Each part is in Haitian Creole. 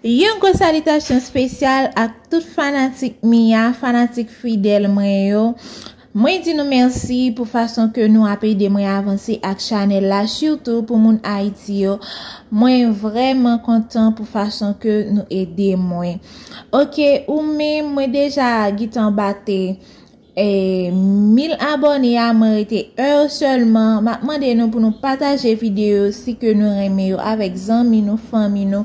Yon gwo salitasyon spesyal ak tout fanatik Mia, fanatik fidèl mwen yo. Mwen di nou mèsi pou fason ke nou ap ede mwen avanse ak chanèl la, sitou pou moun Ayiti yo. Mwen vrèman kontan pou fason ke nou ede mwen. Ok, ou menm mwen deja gitan bate. Mil abòne a mwen rete eu sèlman map mande nou pou nou pataje video si ke nou renmen yo avèk zanmi nou fanmi nou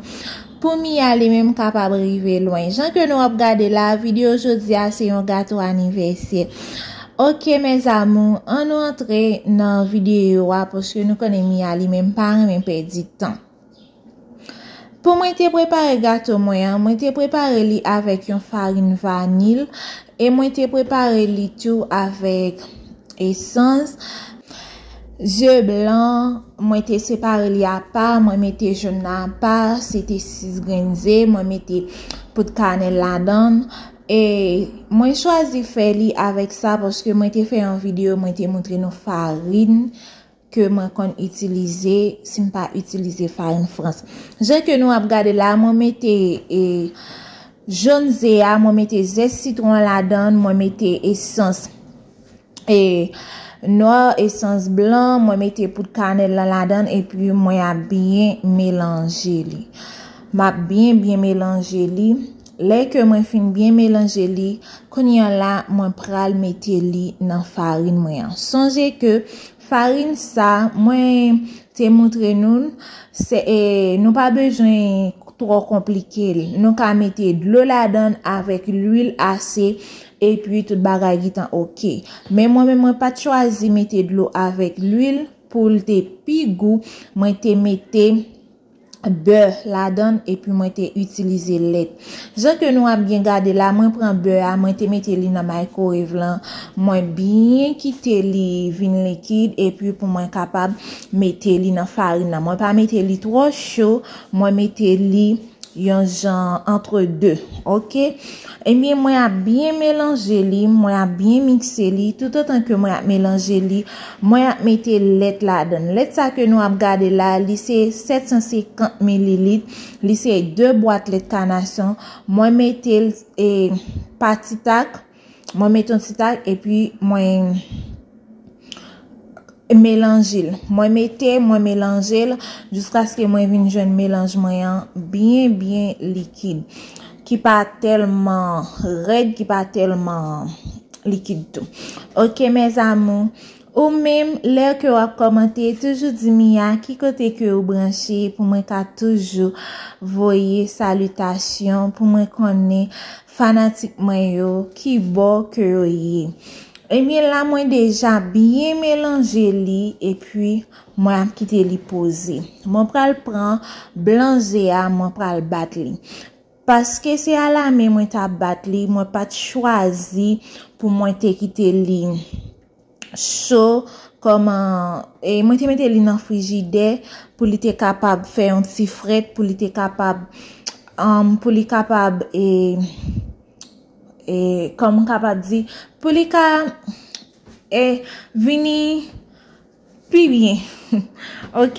pou miya li menm kapab rive lwen jan ke nou ap gade la video jodi a se yon gato anivèsye ok mes amour an nou antre nan video a paske nou konnen miya li menm pa renmen pèdi tan. Pou mwen te prepare gato mwen an, mwen te prepare li avèk yon farin vanil, e mwen te prepare li tou avèk esans, ze blan, mwen te separe li apa, mwen mete joun nan apa, se te 6 grenn ze, mwen mete poud kanèl ladan, e mwen chwazi fè li avèk sa, paske mwen te fè yon videyo, mwen te montre nou farin. ke mwen konn itilize si m pa itilize farin frans. Jan ke nou ap gade la, mwen mete e jòn ze a, mwen mete zès sitron an ladan, mwen mete esans e nwa, esans blan, mwen mete poud kanèl lan ladan, epi mwen ap byen melanje li. M ap byen byen melanje li. Lè ke mwen fin byen melanje li, kounye an la mwen pral mete li nan farin mwen an. Sonje ke farin sa mwen te moutre nou l, nou pa bezwen twò konplike l. Nou ka mete dlo ladan l avèk lwil ase epi tout bagay gentan ok. Men mwen menm mwen pa t chwazi mete dlo avèk lwil pou l te pi gou, mwen te mete. bè ladann epi mwen te itilize lèt. Jan ke nou ap byen gade la mwen pran bè a mwen te mete li nan microwave lan mwen byen kite li vin likid epi pou mwen kapab mete li nan farin nan mwen pa mete li twò cho mwen mete li yon jan antre 2 ok ebyen mwen ap byen melanje li mwen ap byen mikse li toutotan ke mwen ap melanje li Mwen ap mete lèt ladann. Lèt sa ke nou ap gade la, li se 750 mililit, li se 2 bwat lèt kanason, mwen metel e pa ti tak, mwen met yon ti tak epi mwen melanjel. Mwen mete, mwen melanjel, jiskaske mwen vin jwenn melanj mwen an byen byen likid. Ki pa telman red ki pa telman likid tou. Ok mes amours. Ou menm lè ke wap komante toujou di Mia ki kote ke ou branche pou mwen ka toujou voye salutation pou mwen konnen fanatik mwen yo ki bò ke yo ye. Ebyen la mwen deja byen melanje li epi Mwen ap kite li poze. Mwen pral pran blan ze a mwen pral bat li. Paske se a la men mwen ta bat li mwen pat chwazi pou mwen te kite li cho kòman e mwen te mete li nan frijidè pou li te kapab fè yon ti frèt pou li te kapab anm pou li kapab e e kòman kapab di pou li ka e vini Pi byen ok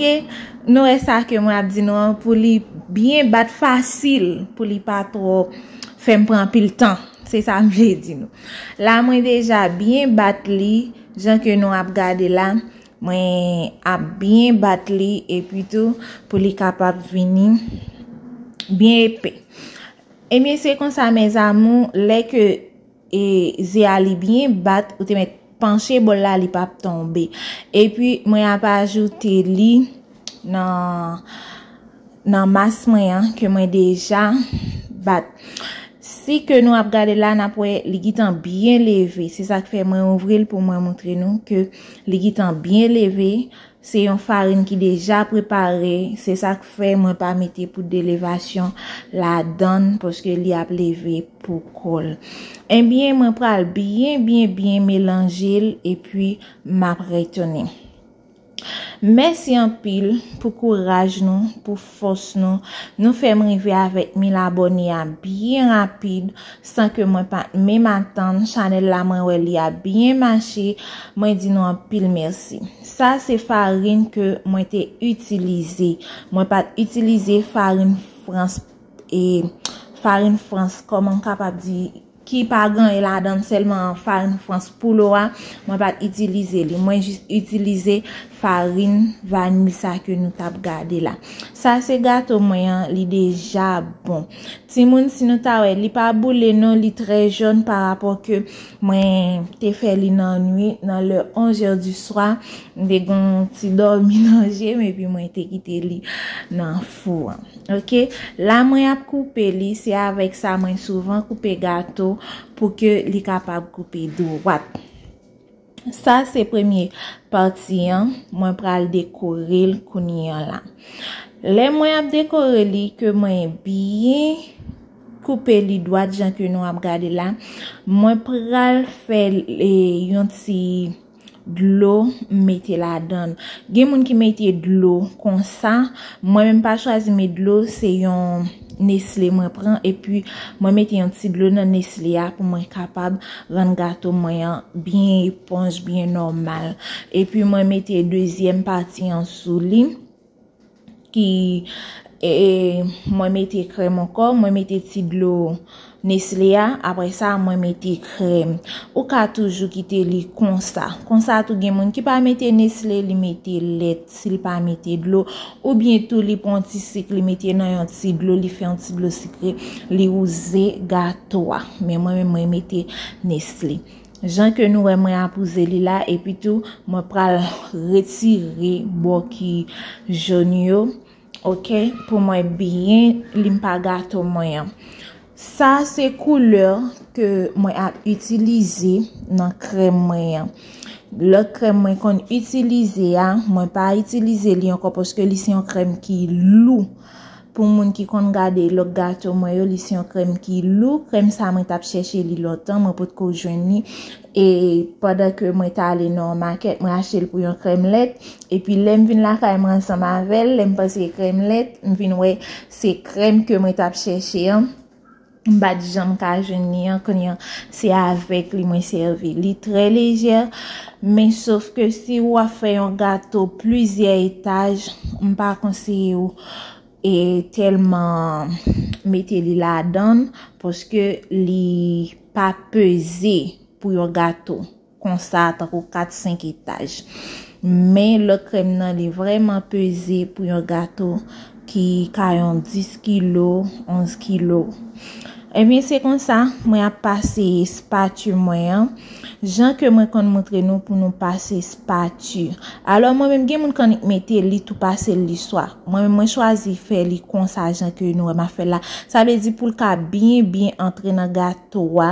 nou wè sa ke mwen ap di nou an pou li byen bat fasil pou li pa twò fèm pran anpil tan se sa m vle di nou la mwen deja byen bat li jan ke nou ap gade la mwen ap byen bat li epi tou pou li kapab vini byen epe ebyen se konsa mes amour lè ke E ze a li byen bat ou te met panche bol la li pap tonbe. E pi mwen ap ajoute li nan nan mas mwen an ke mwen deja bat. Si ke nou ap gade la nap wè li gitan byen leve. Se sak fè mwen ouvri l pou mwen montre nou ke li gitan byen leve. Se yon farin ki deja prepare. Se sak fè mwen pa mete poud de levasyon la dan poske li ap leve. pou kòl enbyen mwen pral byen byen byen melanjel epi map retounen mèsi anpil pou kouraj nou pou fòs nou nou fèm rive avèk 1000 abòne a byen rapid san ke mwen pat menm atann chanèl la mwen wè li ap byen mache mwen di nou anpil mèsi sa se farin ke mwen te itilize mwen pat itilize farin frans E farin frans kòman m kapab di ki pa gaye ladan sèlman farin frans pou lo a mwen pat itilize li mwen jis itilize farin vanil sa ke nou tap gade la sa se gato mwen an li deja bon timoun si nou ta wè li pa boule non li trè jòn pa rapò ke mwen te fè li nan nwit nan lè 11 è di swa m te gon ti dòmi nan je m epi mwen te kite li nan. fou an ok la mwen ap koupe li se avèk sa mwen souvan koupe gato pou ke li kapab koupe dwat sa se premye pati an mwen pral dekore l kounye an la lè mwen ap dekore li ke mwen byen koupe li dwat jan ke nou ap gade la mwen pral fè yon ti dlo mete ladanl gen moun ki mete dlo konsa mwen menm pa chwazi met dlo se yon nesle mwen pran epi mwen mete yon ti dlo nan nesle a pou mwen kapab rann gato mwen an byen eponj byen nòmal epi mwen mete dezyèm pati an sou li. ki mwen mete krèm ankò, mwen mete ti dlo nesle a, apre sa mwen mete krèm. Ou ka toujou kite li konsa. Konsa tou gen moun ki pa mete nesle, li mete lèt, si li pa mete dlo. Ou byen tou li pon ti sik, li mete nan yon ti dlo, li fè yon ti dlo sikre, li wouze gato a. Men mwen mwen mete nesle. Jan ke nou wè mwen apouze li la epi tou mwen pral retire bò ki jaune yo ok pou mwen byen li pa gato mwen an. Sa se couleur ke mwen ap itilize nan krèm mwen an. Lòt krèm mwen konn itilize a mwen pa itilize li ankò paske li se yon krèm ki lou. Pou moun ki konn gade lòk gato mwen yo li se yon krèm ki lou, krèm sa mwen tap chèche li lontan mwen potko jwenn li e pandan ke mwen ta ale nan yon makèt mwen achte l pou yon krèm lèt epi lèm vin lakay mwen ansanm avèl lèm panse krèm lèt m vin wè se krèm ke mwen tap chèche an. M pat janm ka jwenn li an knya se avèk li mwen sèvi. Li trè lejè men sof ke si ou ap fè yon gato plizyè etaj m pa konseye ou e tèlman mete li ladann paske li pa peze pou yon gato. konsa tankou 4 5 etaj men lòt krèm nan li vrèman peze pou yon gato ki ka yon 10 kilo 11 kilo ebyen se konsa mwen ap pase spatu mwen an jan ke mwen konn moutre nou pou nou pase spatu alò mwen menm gen moun kannik mete li tou pasel li swa mwen menm mwen chwazi fè li konsa jan ke nou wèm ap fèl la sa vle di poul ka byen byen antre nan gato. to a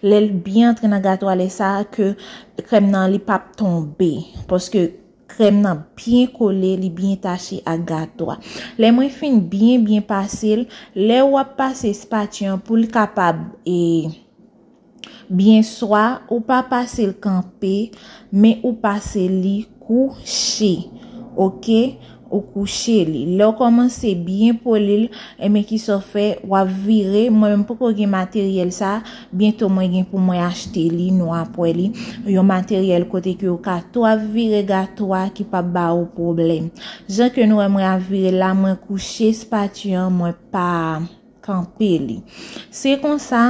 lèl byen antre nan gato a lè sa ke krèm nan li pap tonbe paske krèm nan byen kole li byen tache ak gato a lè mwen fin byen byen pasel lè wap pase espati an poul kapab e byen swa ou pa pasel kanpe men ou pase li kouche ok. Ou kouche li. Lè w kòmanse byen poli l, enben ki sa w fè, w ap vire, mwen menm m poko gen materyèl sa, byento mwen gen pou mwen achte li, nou ap wè li, yon materyèl kote ke ou ka tou ap vire gato a ki pap ba ou pwoblèm. Jan ke nou wè mwen ap vire l la, mwen kouche spati an, mwen pa kanpe li. Se konsa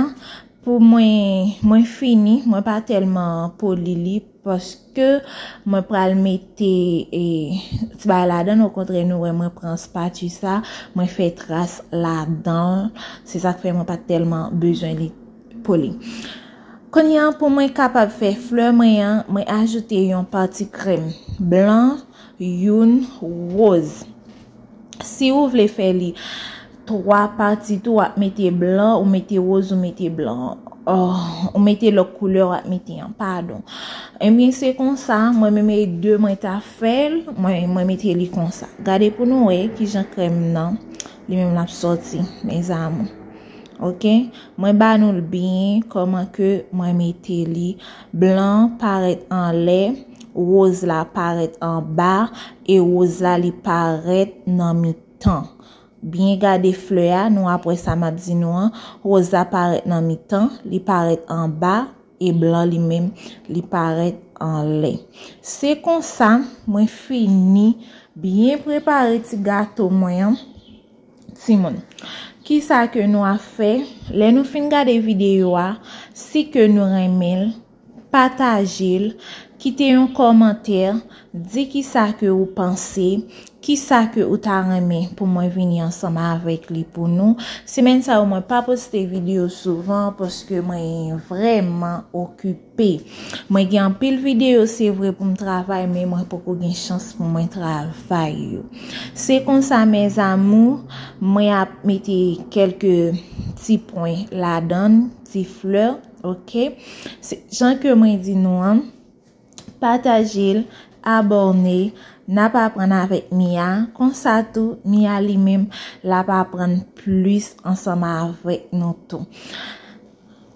pou mwen, mwen fini, mwen pa tèlman poli li. Paske mwen pral mete ti bagay ladan l okontrè nou wè mwen pran spatu sa mwen fè tras ladan l se sak fè mwen pat tèlman bezwen li poli kounye an pou mwen kapab fè flè mwen an mwen ajoute yon pati krèm blan youn woz. Si ou vle fè li 3 pati tou wap mete blan ou mete roz ou mete blan ou mete lòk koulè wap mete an padon ebyen se konsa mwen menm e 2 mwen ta fèl mwen mete li konsa gade pou nou wè kijan krèm nan li menm lap sòti mes amour ok mwen ba nou l byen kòman ke mwen mete li blan parèt anlè roz la parèt anba E rose la li paret nan mitan. Byen gade flè a nou ap wè sa map di nou an, rose la paret nan mitan, li paret anba e blan li menm li paret anlè. Se konsa mwen fini byen prepare ti gato mwen an. Timoun, kisa ke nou ap fè? Lè nou fin gade video a, si ke nou renmen l, Patajel, kite yon kòmantè, di kisa ke ou panse, kisa ke ou ta renmen pou mwen vini ansanm avèk li pou nou. Semèn sa yo mwen pa poste video souvan paske mwen vrèman okipe. Mwen gen anpil video se vre pou m travay men mwen poko gen chans pou mwen travay yo. Se konsa mes amour, mwen ap mete kelke ti pwen ladan, ti flè. Ok Jan ke mwen di nou an Patajel Aborne Nap aprann avèk Mia Konsa tou Mia li menm Lap aprann plis ansanm avèk nou tou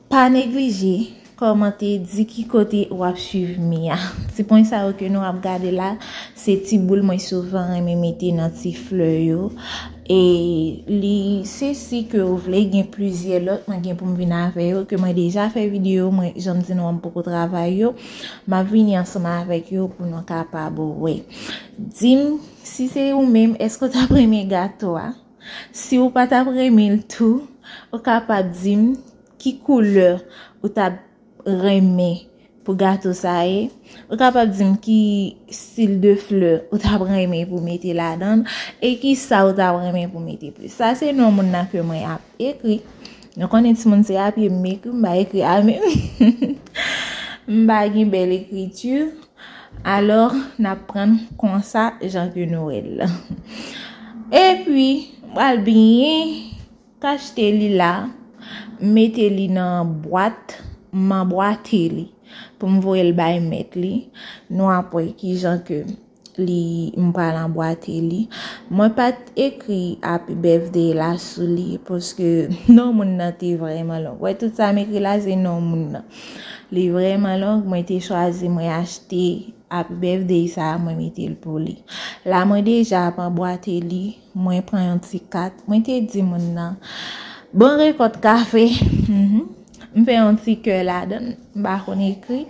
Pa neglije Kòmante di ki kote wap swiv Mia Ti pwen sa yo ke nou ap gade la Se ti boul mwen souvan renmen mete nan ti flè yo. E li se si ke ou vle gen plizyè lòt mwen gen pou m vin avè yo ke mwen deja fè videyo mwen jan m di nou an m poko travay yo m ap vini ansanm avèk yo pou nou kapab wè di m si se ou menm èske ou t ap renmen gato a si ou pa t ap renmen l tou ou kapab di m ki koulè ou t ap renmen pou gato sa ye ou kapab dim ki stil de flè ou tap renmen pou mete ladann e ki sa ou tap renmen pou mete plis sa se non moun nan ke mwen ap ekri nou konnen ti moun se api m ekri m ba ekri a men m ba gen bel ekriti alò nap prann konsa jan ke nou el e pi m pral byen Kachte li la, m mete li nan bwat, m anbwate li pou m voye l bay mèt li. Nou ap wè ki jan ke li, m pral anbwate li. Mwen pa t ekri Happy Birthday la sou li paske non moun nan te vrèman long. Wè tout sa m ekri la se non moun nan. Li vrèman long, mwen te chwazi mwen achte Happy Birthday sa a mwen mete l pou li. La mwen deja ap anbwate li. Mwen pran yon ti kat. Mwen te di moun nan. Bon rekòt kafe. M fè yon ti kè ladan. M pa konn ekri.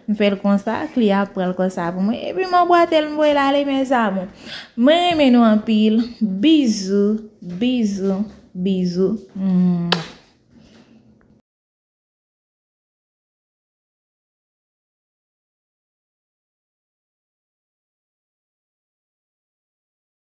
M fè l konsa. Kli a pran l konsa pou mwen. Epi m anbwate l m voye l ale mes amour. Mwen renmen nou anpil. Bizou. Bizou. Bizou. Mouah.